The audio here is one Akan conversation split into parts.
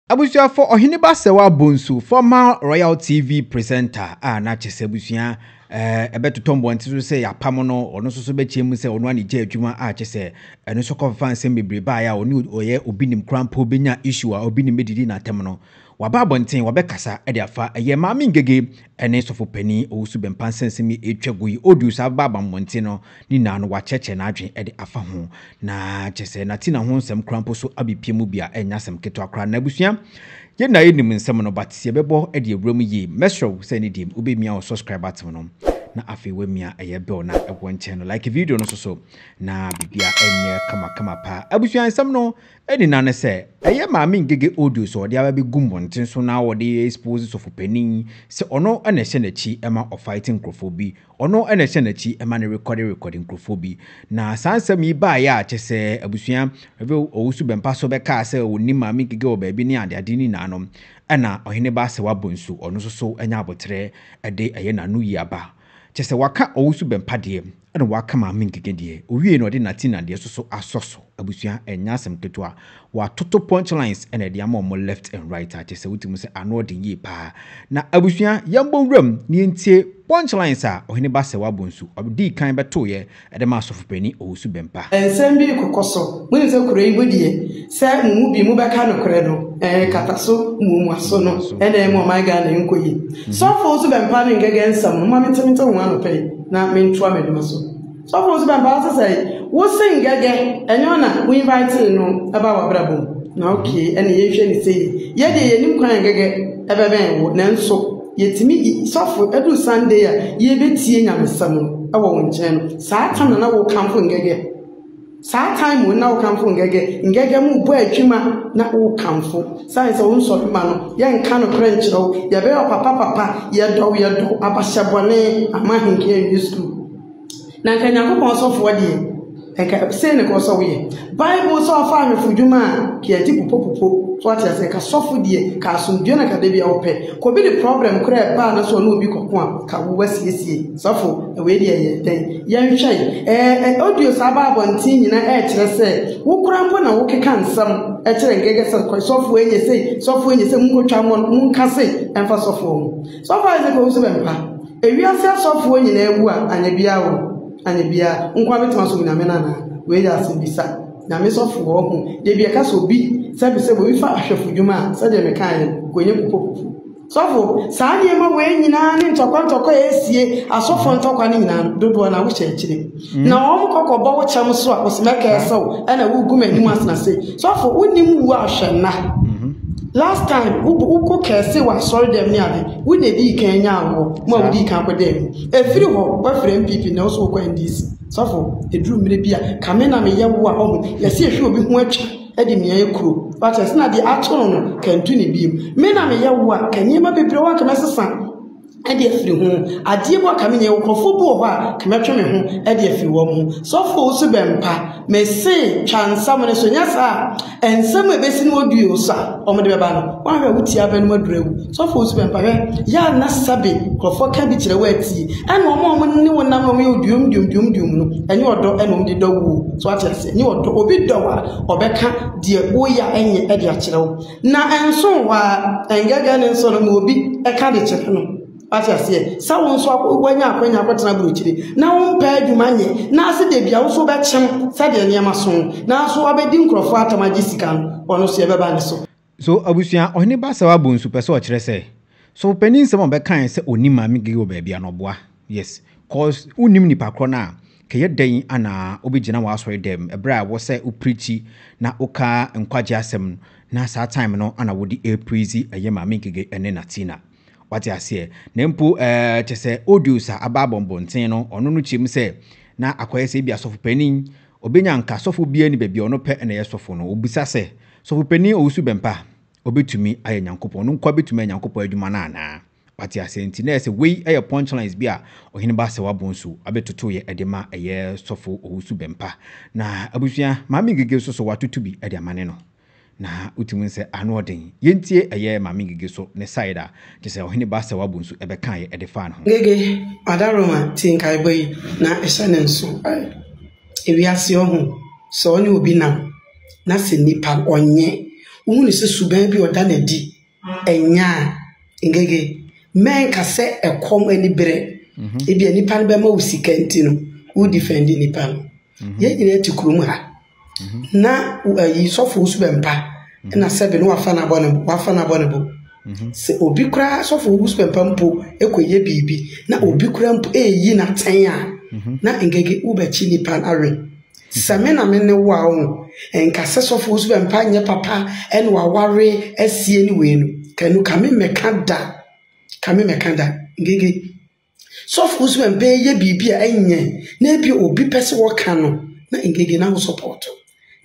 Abusuafo, Ɔhene Basawa Bonsu, former Royal TV presenter a na kyɛ sɛ abusua ɛbɛtotɔ eh, mmɔnten so sɛ yɛapam no, ɔno nso so bɛkyɛ mu sɛ ɔno anigye adwuma a kyɛ sɛ ɛno nso kɔfa nsɛm bebree baeɛ a ɔne ɔyɛ obi nim koraa mpo bɛnya issue a obi nim bɛdidi n'atɛm no. Waba abɔnten, wabɛkasa de afa ɛyɛ Maame Ngege ne Sɔfo Panin Owusu Bɛmpa nsɛmnsɛm yi ɛretwa gu yi. Ɔduu saa bɛba abamɔnten no, ne nyinaa no wakyerɛkyerɛ n'adwene de afa ho. Na kyerɛ sɛ na Tina ho nsɛm koraa mpo so abɛpue mu bi a ɛnyɛ asɛm ketewa koraa. Na abusua, yɛn nyinaa yɛnim nsɛm no but sɛ yɛbɛbɔ de awura mu yie. Mɛsrɛ wo sɛ ɛne deɛ wobɛmia wo subscribe button no na afei woamia ɛyɛ bell no a ɛwɔ nkyɛn no. Like video no nso so na biribiara nyɛ kama kama paa. Abusua, nsɛm no Ɛne na ne sɛ ɛyɛ maame Ngege audio sɛ ɔde aba bi gu mmɔnten so na ɔde expose sɔfopanin sɛ ɔno na ɛhyɛ n'akyi ma ɔ fight nkorɔfoɔ bi, ɔno na ɛhyɛ n'akyi ma no rekɔde rekɔde nkorɔfoɔ bi. Na saa nsɛm yi baeɛ a kyerɛ sɛ abusua Rev Owusu Bɛmpaso bɛkaa sɛ ɔnim maame Ngege wɔ baabi ne adeade no nyinaa no ɛna Ɔhene Baasewa Bonsu ɔno nso so anya aboterɛ de ɛyɛ n'ano yi aba. Kyerɛ sɛ waka ɔwosu bɛmpa deɛ ɛna waka maame nkeke deɛ owiee na ɔde natina deɛ soso asɔ so abusua ɛnyɛ asɛm ketewa watoto punch lines na ɛde ama ɔmo left and right a kyerɛ sɛ wote mu sɛ ano ɔden yie paa na abusua yɛnbɔ nwura mu na yɛntie punch lines a ɔhene ba sɛwa bonsu ɔdii kan bɛtoeɛ Ɛde ma Asɔfo Panyin Owusu Bempah. Nsɛm bi rekɔkɔ so. Monim sɛ kuro yi mu deɛ, sɛ mo mu bi mobɛka nokorɛ no, ɛɛ kataso muomuaso no na ɛma ɔman Ghana nkɔ yie. Sɔfo Owusu Bɛmpah ne ngɛgɛ nsɛm no, momma mente mente ho anɔpa yi na mentoa m'adwuma so. Sɔfo Owusu Bɛmpah, wose sɛe? Wose ngɛgɛ, ɛnyɛ wo na wo invitee no baa w'abrabɔ mu? Na okay, ɛne yɛnhwɛ no sei. Yɛ deɛ yɛnim kwan a ngɛgɛ bɛbɛn wo, nanso. Yɛtumi yi sɔfo ɛduru Sunday a yɛbɛtie nyamesɛm no ɛwɔ wo nkyɛn no saa time no na wo kamfo ngɛgɛ saa time wo na wo kamfo ngɛgɛ ngɛgɛ mu bɔ atwuma na wo kamfo sane sɛ wo nsɔre ma no yɛ nka no korɛ nkyerɛ wo yɛbɛyɛ papa papa yɛdɔw yɛdɔw abahyɛ bɔne ama henkɛ nwi school Na anka Nyankopɔn sɔfoɔ deɛ, anka sei ne kɔɔ sɛ woyɛ. Bible sɛ ɔfa ahwɛfo dwuma a, ka yɛte pupopupo. So wate aseɛ? Ka sɔfo deɛ, ka asomdwoeɛ na ka da bi a wopɛ. Ka obi de problem koraa ɛba a na sɛ ɔne obi kɔko a, ka wo wasiesie. Sɔfo, wei deɛ ɛyɛ dɛn? Yɛnhwɛ yi. Ɛɛ, ɛ, audios a aba abɔnten nyina ɛɛkyerɛ sɛ, wo koraa mpo na wokeka nsɛm ɛkyerɛ nkɛkɛ sɛ, kɔ sɔfoɔ ɛnyɛ sei, sɔfoɔ ɛnyɛ sei, monkɔtwa mmɔ no, monka sei ɛmfa sɔfoɔ ho. Sɔfo Isaac Owusu Bempah, Ewiase asɔfoɔ nyinaa wu a anyɛ biaa o, anyɛ biaa, nkoa bɛtumi asom Nyame no anaa? Wei yɛ asɛmbisa. Nyame sɔfoɔ ho deɛ bi ɛka sɛ obi, sɛbi sɛbi, obi fa ahwɛfo dwuma a, sɛdeɛ mekaeɛ no, kɔnya kupokupo. Sɔfo, saa nneɛma wei nyinaa ne ntɔkwa ntɔkwa a ɛresie asɔfoɔ ntɔkwa no nyinaa no, dodoɔ no ara wohyɛ akyire. Na wɔn kɔ kɔbɔ wo kyɛm so a ɔsima kɛɛ sɛ wo ɛna wogu m'anim asena se sɔfo wonim wu a hwɛ nna last time wokɔ kɛɛ se wɔ asɔre dɛm ne ade wo na edii kan nya awoɔ mo a wodii kan kɔ dɛm mu efiri hɔ woafiri NPP na wo so wokɔ NDC sɔfo eduru mmerɛ bi a kame na me yɛ wo a ɔho yɛse ehwe obi ho atwa ɛde mia ekuro wate ase na deɛ ato no no kantu ne biem me na me yɛ wo a ka nneɛma bebree wɔ hɔ a nka mɛsesa. de afiri ho. Adeɛ mu a ka menyɛ, nkurɔfoɔ bi wɔ hɔ a ka mɛtwe me ho de afiri wɔn ho. Sɔfo wo so bɛmpa, mese twa nsamene so, nyɛ saa a nsɛm a ɛbɛsi no wɔ duo so a wɔde bɛba no, woahwɛ a wotie abɛ no aduru awu. Sɔfo wo so bɛmpa, hwɛ, yɛ a na sɛbe nkurɔfoɔ ka bi kyerɛ wo atie. Ɛna wɔn a wɔn ne wo nam na wɔn yɛ oduom duom duom duom no, ɛnyɛ ɔdɔ ɛna wɔn de dɔ wo o. So ate aseɛ? Ɛnyɛ ɔdɔ. Obi dɔ wo a, ɔbɛka deɛ woyɛ a ɛnyɛ de akyerɛ wo. Na ɛnso wo ara, ɛngɛgɛ ne nso no ma obi ka de kyerɛ no. Wate aseɛ? Sɛ wo nso akɔ, woanya akwanya akɔtena aburokyire na wompɛ adwuma nyɛ, na ase da bi a wo nso wobɛkyem sɛdeɛ nneɛma so no, nanso wabɛdi nkurɔfoɔ atam agye sika no, ɔno nso yɛbɛba ne so. So abusua, Ɔhene Basawa bonsu pɛ sɛ ɔkyerɛ sɛ sɔfo panin nsɛm a ɔbɛkae sɛ ɔnim Maame Gege wɔ baabi a na ɔboa? Yes, cause wonnim nipa korɔ no a Kɛyɛ dɛn na wobegyina w'asɔredɛm bere a ɛwɔ sɛ wo preachi na wo ka nkwagye asɛm no na saa time no na wo de ɛrepraise ɛyɛ Maame Ngige ɛne Natina? Wate aseɛ? Na mpo eh kyɛsɛ audios a aba abɔ mbɔnten no ɔno no kyerɛ mu sɛ na akɔyɛ sɛ ebi a sɔfo panin obenya nka sɔfo biara ni baabi a ɔno pɛ na ɛyɛ sɔfo no wobisa sɛ sɔfo panin Owusu Bɛmpa obetumi ayɛ Nyankopɔn ɔno nkoa betumi ayɛ Nyankopɔn adwuma no anaa? Wate aseɛ? Nti na ɛsɛ wei yɛ punchlines bi a Ɔhene Baasɛw Abonsu abɛtoto yɛ de ma ɛyɛ Sɔfo Owusu Bɛmpa. Na abusua, Maame Ngige nso so watoto bi de ama ne no. Na wotumi hu sɛ ano ɔden. Yɛntie ɛyɛ Maame Ngige so ne side a kyerɛ sɛ Ɔhene Baasɛw Abonsu bɛkaeɛ de faa ne ho. Ngege, Adaroma te nkaebɔ yi na hyɛ no nso ɛ. Ewiase ɔho, sɛ ɔne obi nam na sɛ nipa ɔnyɛ, wohu no sɛ suban bi a ɔda no adi Ɛnyɛ a, Ngege, mɛnka sɛ ɛkɔm ani bere. Ebia nnipa no bɛma wo sika nti no, wodifɛndi nnipa no. Yɛn nyinaa te kurom ha, na wo ayi sɔfo wo so bɛmpa, ɛna sɛbe na wafa no abɔ ne bo, wafa no abɔ ne bo. Sɛ obi koraa, sɔfo wo so bɛmpa mpo kɔyɛ biribi, na obi koraa mpo reyi no atɛn a, na Ngege, wobɛkye nnipa no awe. Sɛ me na me ne wo a ɔho nka sɛ sɔfo wo so bɛ mpa nyɛ papa ɛne waware asie ne wei no ka nu ka me mɛka da ka me mɛka da ngege sɔfo wo so bɛ mpa yɛ biribi a ɛnyɛ na ebi obi pɛ sɛ wɔka no na ngege na ho sɔpɔto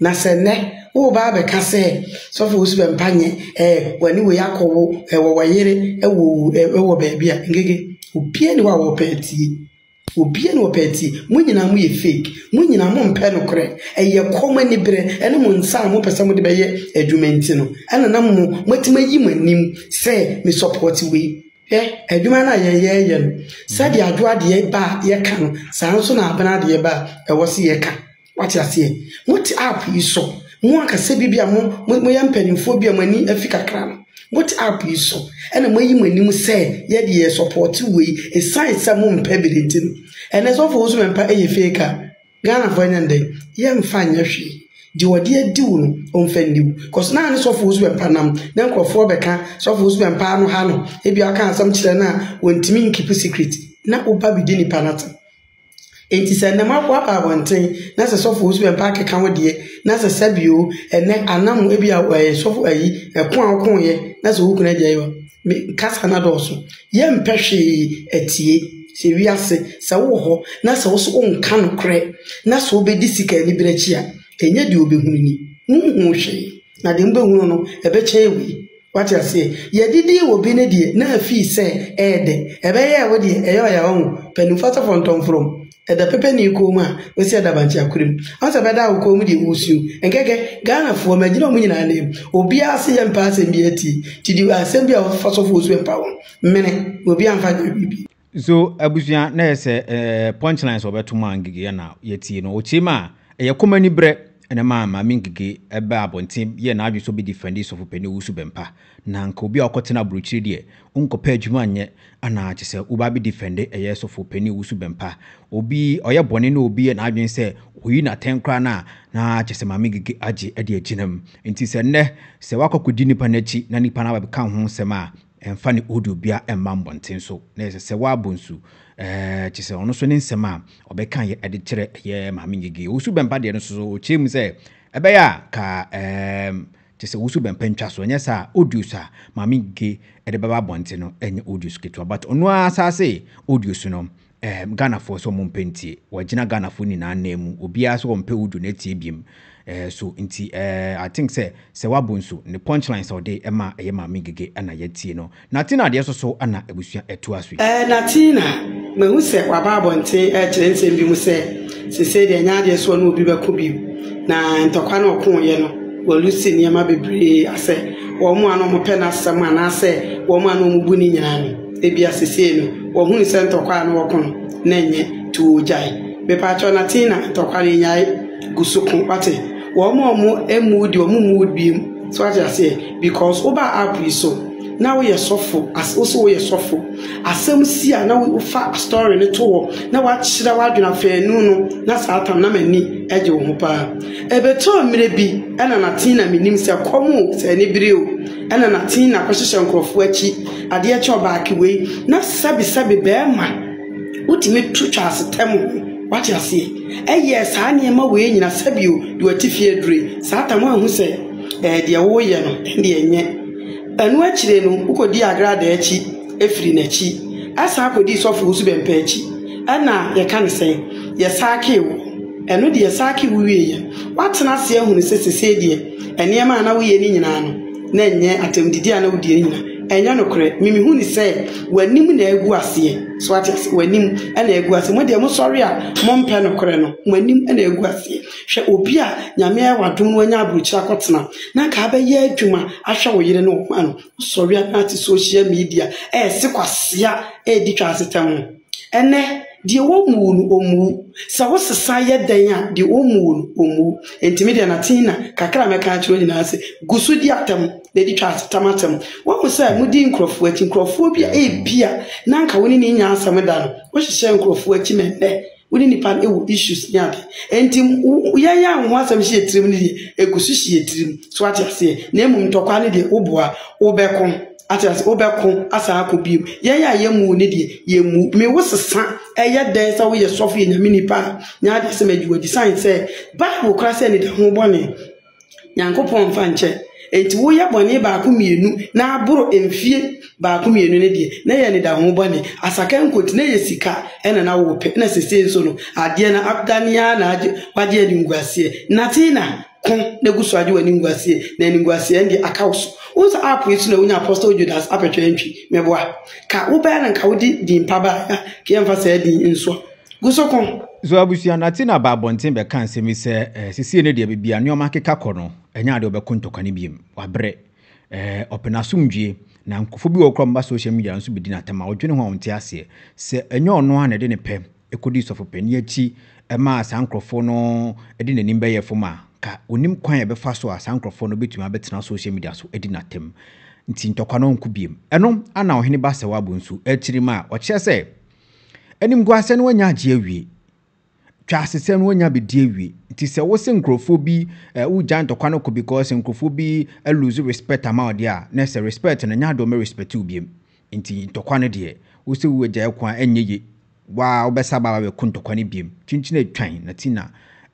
na sɛ nɛ wo ba bɛka sɛ sɔfo wo so bɛ mpa nyɛ ɛɛ wani wei akɔwo ɛwɔ wɔyere ɛwɔ ɛwɔ baabi a ngege obie ne wɔ a wɔpɛ atie Obia na ɔpɛ nti mo nyinaa mo yɛ fake mo nyinaa mo mpɛ nokorɛ ɛyɛ kɔm aniberɛ ɛne mo nsa a mo pɛ sɛ mo de bɛyɛ adwuma nti no ɛna na mo mo atumi ayi mo anim sɛ me support wei hwɛ adwuma no a yɛ yɛ yɛ no sɛdeɛ adwoa deɛ ba a yɛ ka no saa nso na abena deɛ ba a ɛwɔ se yɛ ka Wate aseɛ? Mote app yi so, mo ankasa bi bi a mo, mo, moyɛ mpanimfoɔ bi a mo ani afi kakra no, mote app yi so, ɛna moayi mo anim sɛ yɛ deɛ yɛ support wei, ɛsiane sɛ mo mpɛ bere nti no. Ɛnɛ sɔfo wo so mɛmpa ɛyɛ fake a, Ghanafoɔ ɛnyɛ no dɛn? Yɛ mfa nyɛ hwee. Deɛ ɔde adi wo no, ɔmfa nni wo. Cos na ne sɔfo wo so mɛmpa nam, na nkorɔfoɔ bɛka sɔfo wo so mɛmpa ano ha no, ebia ɔka asɛm kyerɛ no a, ɔntumi nkeep secret, na woba bɛdi nipa no atɛm. Enti sɛ ɛnnɛ moaboaboa abɔnten na sɛ sɔfo osu bɛ mpaa keka wo deɛ na sɛ sɛbi o ɛnnɛ anam ebi a ɛɛ sɔfo ayi ɛko a ɔko yɛ na sɛ wo kunu ɛde ɛyɔ me kasa na dɔɔso yɛ mpɛ hwee atie sɛ wiase sɛ wo wɔ hɔ na sɛ wo so wo nka no korɛ na sɛ wo bɛ di sika ani bere akyi a ɛnyɛ deɛ ɔbɛ hunu ni wo nhuu hwee na deɛ mo bɛ hunu no ɛbɛ kyɛn wei. Wate aseɛ? Yɛde dii wɔ bi ne deɛ na afii sɛ ɛyɛ dɛ. Ɛbɛyɛɛ wo deɛ ɛyɛ ɔya wahu. Panimfoɔ asɔfoɔ ntɔnfrom. Ɛda pɛpɛnii kɔn mu a ɔsi ɛda bankye akora mu. Wahu sɛ ɛbɛdaa wo kɔn mu deɛ woresuo. Nkɛkɛ. Ghanafoɔ, magyina wɔn nyinaa anim. Obiara se yɛmpɛ asɛm biara tie. Nti deɛ asɛm biara a wɔbɛfa sɔfoɔ so mpa wɔn. Mene. Na obiara mfa nyɛ biribi. So abusua na yɛ sɛ ɛɛ punchline sɛ ɔbɛto mu a ngige yɛ na yɛtie no ɔkyie mu a ɛyɛ kɔm ani berɛ ɛna maa maame ngige ɛbɛ abɔnten yɛ na adwe so bɛ defendi sɔfo pɛni owusu bɛmpa na nka obi a ɔkɔ tena aburokyire deɛ wonkɔ pɛ adwuma nyɛ ana kyɛ sɛ wo ba bɛ defendi ɛyɛ sɔfo pɛni owusu bɛmpa obi ɔyɛ bɔne na obi yɛ na adwen sɛ oyi na tɛn koraa na na kyɛ sɛ maame ngige agye ɛde agyina mu nti sɛ nnɛ sɛ wakɔ kɔdi nipa n'akyi na nipa na bɛka ho nsɛm a Ɛmfa ne audio biara mma mmɔnten so na ɛsɛ sɛ w'abɔ nsu. Ɛɛ, kyerɛ sɛ ɔno nso ne nsɛm a ɔbɛka yɛ ɛde kyerɛ ɛyɛ Maame Ngege. Owusu Bɛmpa deɛ no nso so ɔkyerɛ mu sɛ ɛbɛyɛ a ka ɛɛm kyerɛ sɛ Owusu Bɛmpa ntwa so. Ɛnyɛ saa a audios a Maame Ngege ɛde bɛba abɔnten no ɛnyɛ audios ketewa but ɔno ara asaase audios no Ɛɛm Ghanafoɔ sɛ ɔmo mpɛ ntie. Wagyina Ghanafoɔ nyinaa nan mu. Obiaa sɛ ɔmpɛ Uju na atie biem. Ɛɛ so nti ɛɛ I think sɛ sɛ wabo nso ne punchlines a ɔde ma ɛyɛ Maame Ngege na yɛatie no. Natina deɛ so so na abusua ɛtoa so yi. Ɛɛ Natina, mahu sɛ waba abɔnten rekyerɛ nsɛm bi mu sɛ seisei deɛ ɛnyɛ adeɛ sɛ ɔne obi bɛko bio. Na ntɔkwa no a ɔkooeɛ no walusi nneɛma bebree asɛ wɔn a na wɔpɛ n'asɛm anaasɛ wɔn a na wɔbu no nyinaa no. Ebia sesei no wɔhunu sɛ ntɔkwa a na wɔko no na ɛnyɛ tu ogyae. Mepaakyɛw na tee na ntɔkwa no nyae gu so ko wate. Wɔn a wɔn mmuo deɛ wɔn mmuo biem so wate aseɛ because wobaa app yi so na woyɛ sɔfo as wose woyɛ sɔfo asɛm si a na wofa story no to hɔ na wakyerɛ w'adwene afɛnu no na saa tam na m'ani gye wo ho paa. Ɛbɛtɔɔ mmerɛ bi ɛna na tee na menim sɛ kɔm o sɛ ani bere o Ɛna na Tina kɔhyehyɛ nkorɔfoɔ akyi adeɛ kyɛ ɔbaake wei na sɛbi sɛbi bɛɛma wotumi to twa asetɛm ho wate aseɛ ɛyɛɛ saa nneɛma wei nyina sɛbi o de wati fie adure saa tam anhu sɛ ɛɛ deɛ woyɛ no ɛnde ɛnyɛ ɛno akyire no wokɔ di agrada akyi ɛfiri n'akyi ɛsan kɔ di sɔfo wosu bɛmpɛ akyi ɛna yɛka ne sɛn yɛsaakee wo ɛno deɛ yɛsaakee wo wieɛ woatena aseɛ ahunu sɛ sesei deɛ Nneɛma a na woyɛ no nyinaa no, na ɛnyɛ atɛmdidi a na wodie no nyinaa. Ɛnyɛ nokorɛ. Me mehu no sɛ w'anim na agu aseɛ. So wate aseɛ? W'anim na agu aseɛ. Mo deɛ mosɔre a mompɛ nokorɛ no, mo anim na agu aseɛ. Hwɛ obi a Nyame ayɛ w'adom na wanya aburokyire akɔtena na anka abɛyɛ adwuma ahwɛ wo yere ne wo mma no, wosɔre a na ate social media ɛrese kwasea ɛredi twa asetɛm ho. Ɛnnɛ, deɛ wɔmmuu no, ɔmmuu. Sɛ wo sesa yɛ dɛn a, deɛ wɔmmuu no, ɔmmuu. Enti me deɛ Natina, kakra a mɛka akyerɛ wo nyinaa ne sɛ, gu so di atɛm na di twa asetam atɛm. Woahu sɛ modi nkurɔfoɔ akyi, nkurɔfoɔ bi a ebia na anka wo ne no nnya asɛm da no, wohyehyɛ nkurɔfoɔ akyi ma ɛnnɛ wo ne nnipa no wɔ issues ne ade. Enti wo- yɛn a wo ho asɛm hyɛ yɛn tirim no deɛ, ɛgu so hyɛ yɛn tirim. So ate aseɛ? Na mmom ntɔkwa no deɛ, woboa a, wobɛko. Ate ase? Wobɛko asan akɔ bio. Yɛn a yɛmmu ne deɛ, yɛmmu. Me wo sesa, ɛyɛ dɛn sɛ woyɛ sɔfo yɛ nyame nipa a, nyɛ adeɛ sɛ madi wadi. Sane sɛ, Bible kora sɛ anida ho bɔne, Nyankopɔn mfa nkyɛ. Enti woyɛ bɔne baako mmienu na aboro mfie baako mmienu no deɛ, na ɛyɛ anida ho bɔne. Asakɛ nkoti, na ɛyɛ sika na na wopɛ, na sesei nso no, adeɛ no adane ara na wagye animguaseɛ. Nate na. ko na gu so agye w'animguaseɛ, na animguaseɛ no deɛ aka wo so. Wohu sɛ app yi so na wonya Apostle Judas apɛtwɛ ntwi, meboa. Ka wobɛyɛ no nka wode din pa baeɛ a, ka yɛmfa saa din nsoɔ. Gu so ko. So abusua no ate na aba abɔnten bɛka nsɛm yi sɛ, eh, seesei no deɛ baabi a nneɛma akeka kɔ no, ɛnyɛ ade a wɔbɛko ntɔkwa no biom. Wɔabrɛ. Eh, wɔpɛ no asomdwoe. Na nkurɔfoɔ bi wɔ hɔ koraa a wɔba social media no so bɛdi no atɛm a wodwene ho a wonte aseɛ. Sɛ ɛnyɛ ɔno ara na ɛde ne pɛ kodii sɔfopanyin akyi maa saa nkurɔfo no de n'anim bɛyɛɛ fam a, anka onnim kwan a ɛbɛfa so a saa nkurɔfo no betumi abɛtena social media so adi no atɛm. Nti ntɔkwa no nko bio. Ɛno ara na Ɔhene Basewabu nso, akyiri ma ɔkyerɛ sɛ animguasɛm no anya agye awie, twaasesɛm no anya abedi awie. Nti sɛ wose nkurɔfo bi eh, wogyae ntɔkwa no kɔ because nkurɔfo bi lose respect ama wo deɛ a, na ɛsɛ respect no nyɛ ade a wɔbɛrespect wo bio. Nti ntɔkwa no deɛ, wo sɛ wo agyae ko a ɛnyɛ ye, wo a wobɛsa aba abɛ ko ntɔkwa no biom. Kyinkyin a etwan na ti na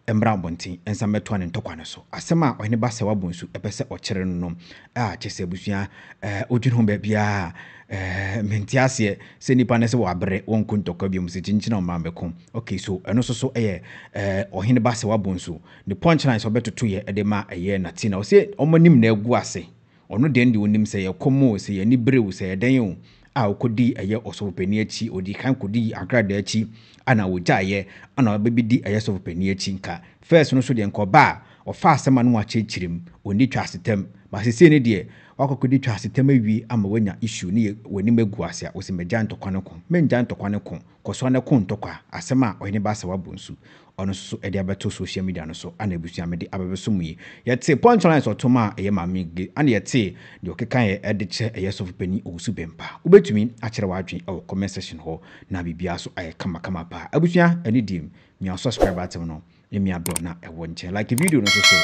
ɛmmra abɔnten nsa mmɛtoa ne ntɔkwa no so. Asɛm a Ɔhene Basawa Bonsu pɛ sɛ ɔkyere no no, ah, kyerɛ sɛ abusua eh, wodwene ho baabiara eh, mente aseɛ sɛ nnipa no sɛ wɔabrɛ wɔn ko ntɔkwa biom sɛ kyinkyin a ɔmma mmɛko. Okay, so ɛno nso so ɛyɛ eh, Ɔhene Basawa Bonsu ne punch line sɛ ɔbɛtotoeɛ de ma ɛyɛ Natina. Ɔse ɔmma nim na agu ase. Ɔno dɛn de onim sɛ yɛkɔm o, sɛ yɛn ani bere o, sɛ ɛyɛ dɛn o, a okodii ɛyɛ ɔsɔfopanin akyi, odii kan kodii Ankrada akyi, ɛna ogyaeɛ, ɛna ɔbɛbedi ɛyɛ sɔfopanin akyi. Nka first no so deɛ nka ɔba a, ɔfa asɛm a na wɔakyerɛkyerɛ mu, ɔnni twasetɛm. But seesei no deɛ, wakɔ akɔdi twasetɛm awie ama wanya issue ne yɛ, w'anim agu ase a, wose magyae ntɔkwa no ko. Mengyae ntɔkwa no ko, kɔsoa na ko ntɔkwa, asɛm a ɔhene Baasa wabɔ nsu. ɔno nso so ɛde abɛto social media no so ana abusua mede abɛbɛso mu yi yɛte punchlines ɔtom a ɛyɛ maame ge ana yɛte deɛ ɔkeka yɛ ɛde kyɛ ɛyɛ sɔfo panyin owusu bɛmpa wobɛtumi akyerɛ w'adwene ɛwɔ comment section hɔ na biribiara so ayɛ kama kama paa abusua ɛne diem mia subscribe atem no mia dɔ na ɛwɔ nkyɛn like video no so so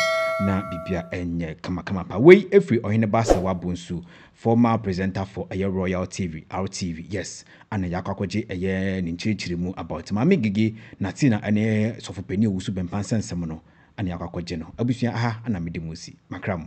na biribiara ɛnyɛ kama kama paa wei efiri ɔhene baasa wabonsu former presenter for ɛyɛ royal tv rtv yes Ana yɛakɔ akɔgye ɛyɛ ne nkyerɛkyerɛ mu about Maame Gigi na Tina ɛne Sɔfo Panin Owusu Bɛmpa nsɛnsɛm no ana yɛakɔ akɔgye no. Abusua aha ana mede mo asi. Makra mo.